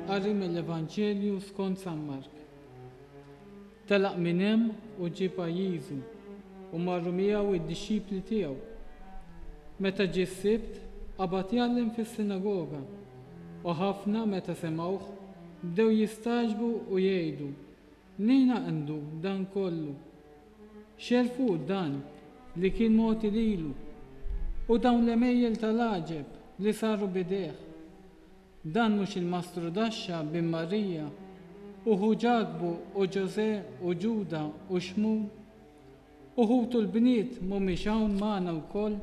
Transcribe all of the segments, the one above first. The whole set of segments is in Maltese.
Qari mill-Evanġelju skont San Mark. Telaq minn hemm u ġie pajjiżu, u marru miegħu id-dixxipli tiegħu. Meta ġie s-Sibt, qabad jgħallem fis-sinagoga, u ħafna meta semgħuh, Bdew jistagħġbu u jgħidu, Mnejn għandu dan kollu? X'għerfu dan li kien mogħti lilu, u dawn l-għemejjel ta' l-għaġeb li saru b'idejh? Dan mhux il-mastru daxxa bin Marija, u ħu Ġakbu u Ġożè u Ġuda u Xmun? Uħud u l-bniet mhumiex hawn magħna wkoll?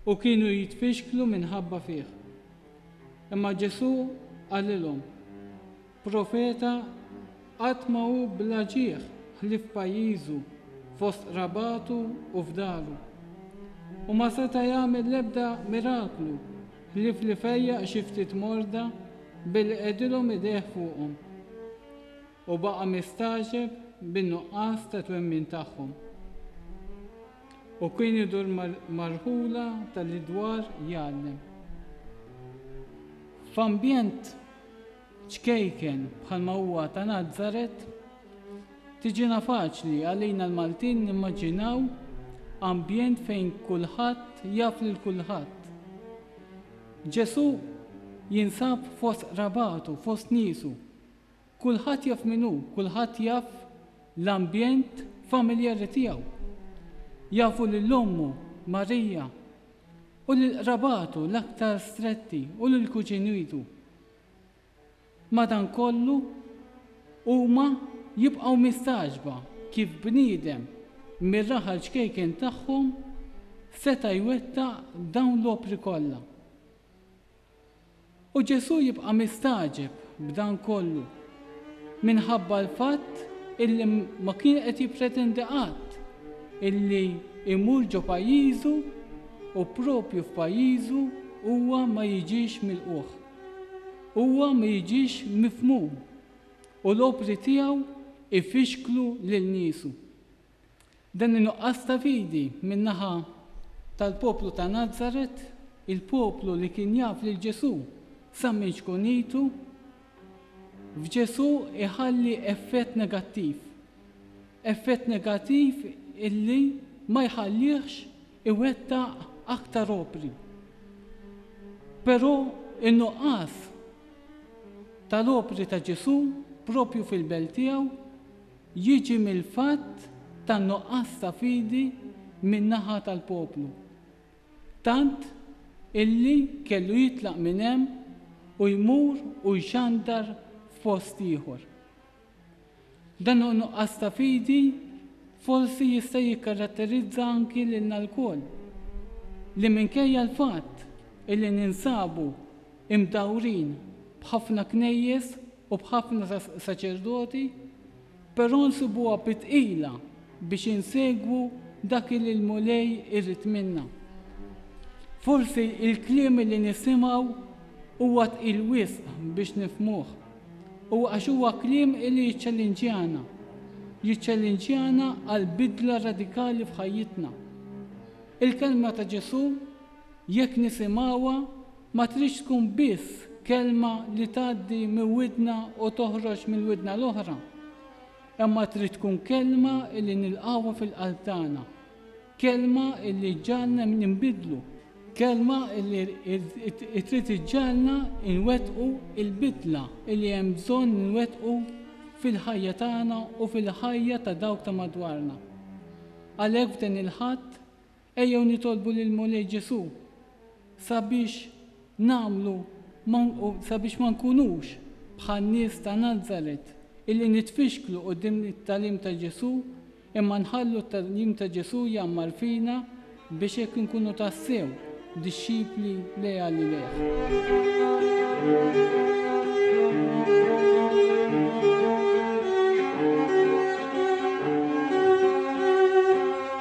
U kienu jitfixklu minħabba fih. Imma Ġesù qalilhom, Profeta qatt ma hu bla ġieħ ħlief f'pajjiżu, fost qrabatu u f'daru. U ma seta' jagħmel l-ebda miraklu ħlief li fejjaq xi ftit morda billi qegħdilhom idejh fuqhom. u baqa' mistagħġeb bin-nuqqas ta' twemmin tagħhom u kien idur marħula talli dwar jgħallem. F'ambjent ċkejken bħalma huwa ta' Nazaret, tiġina faċli għalina l-Maltin nimmaġinaw ambjent fejn kulħadd jaf lil kulħadd. Ġesù jinsab fost qrabatu, fost niesu, Kulħadd jaf min hu, kulħadd jaf l-ambjent familjari tiegħu. Jafu lil ommu, Marija, u lil qrabatu l-aktar stretti u lil kuġinitu. Madankollu, huma jibqgħu mistagħġba kif bniedem mir-raħal ċkejken tagħhom seta' jwettaq dawn l-opri kollha. U Ġesù jibqa' mistagħġeb b'dan kollu, minħabba l-fatt illi ma kien qed jippretendi qatt illi jmur ġo pajjiżu u proprju f'pajjiżu huwa ma jiġix milqugħ, huwa ma jiġix mifhmum u l-opri tiegħu jfixklu lil niesu. Dan in-nuqqas ta' fidi min-naħa tal-poplu ta' Nazaret, il-poplu li kien jaf lil Ġesù sa minn xkunitu, f'Ġesù iħalli effett negattiv. Effett negattiv illi ma jħallihx iwettaq aktar opri. Però in-nuqqas tal-opri ta' Ġesù proprju fil-belt tiegħu, jiġi mill-fatt tan-nuqqas ta' fidi min-naħa tal-poplu, tant illi kellu jitlaq minn hemm u jmur u jxandar f'post ieħor. Dan nuqqas ta' fidi forsi jista' jikkaratterizza anki lilna lkoll, li minkejja l-fatt illi ninsabu mdawrin b'ħafna knejjes u b'ħafna saċerdoti, però nsibuha bi tqila biex insegwu dak li l-Mulej irid minna. Forsi l-kliem li nisimgħu huwa tqil wisq biex nifhmuh, u għax huwa kliem li jiċċallinġjana, jiċċallinġjana għal bidla radikali f'ħajjitna. Il-kelma ta' Ġesù Jekk nifhimawha, ma tridx tkun biss kelma li tgħaddi minn widna u toħroġ mill-widna l-oħra, imma trid tkun kelma li nilqgħuha fil-qalb tagħna, kelma li ġġagħalna ninbidlu, kelma li trid iġġagħalna nwettqu l-bidla li hemm bżonn nwettqu fil-ħajja tagħna u fil-ħajja ta' dawk ta' madwarna. Għalhekk f'dan il-Ħadd, Ejjew nitolbu lill-Mulej Ġesù sabiex nagħmlu ma sabiex ma nkunux bħan-nies ta' Nazaret illi nitfixklu quddiem it-tagħlim ta' Ġesù imma nħallu t-tagħlim ta' Ġesù jgħammar fina biex hekk inkunu tassew dixxipli leali lejh.